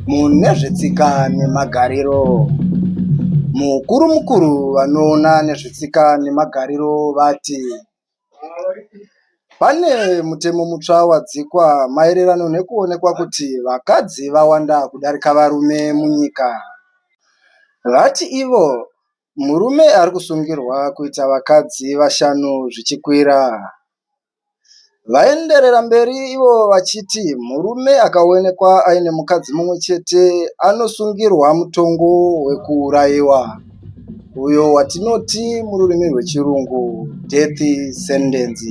Mune zvetsika nemagariro, mukuru mukuru vanoona nezvetsika nemagariro vati pane mutemo mutsva wadzikwa maererano nekuonekwa kuti vakadzi vawanda kudarika varume munyika. Vati ivo Murume ari kusungirwa kuita vakadzi vashanu zvichikwira. Vaenderera mberi ivo vachiti murume akaonekwa aine mukadzi mumwe chete anosungirwa mutongo wekuurayiwa uyo watinoti mururimi rwechirungu death sentence.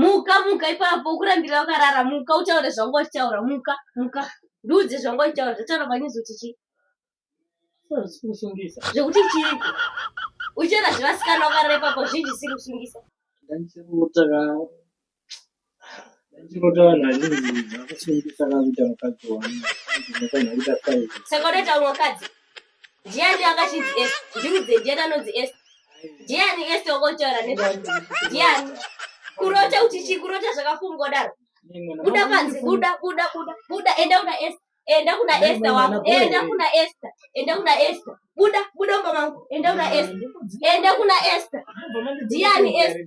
muka muka ipapo ukurambira wakarara muka utaure zvanga uchitaura muka muka ndiudze zvanga uchitaura zvataura panyezo kuti chii zvikusungisa zvekuti chii uchera zvevasikana wakarara ipapo zvinji zvisiri kusungisa ndandichirota ka ndandichirota vanhu vazhinji vakusungisa kakuita mukadzi wangu saka unoita umwe mukadzi Ndiani akachinzi es? Ndiudze ndiani anonzi es? Ndiani es okotaura nezvazvo? Ndiani? Kurota kuti chi kurota zvakafungwa daro. Buda panze, buda, buda, buda, buda, enda kuna es. Enda kuna Esther wako. Enda kuna Esther. Enda kuna Esther. Buda, buda mama wangu. Enda kuna Esther. Enda kuna Esther. Ndiani Esther?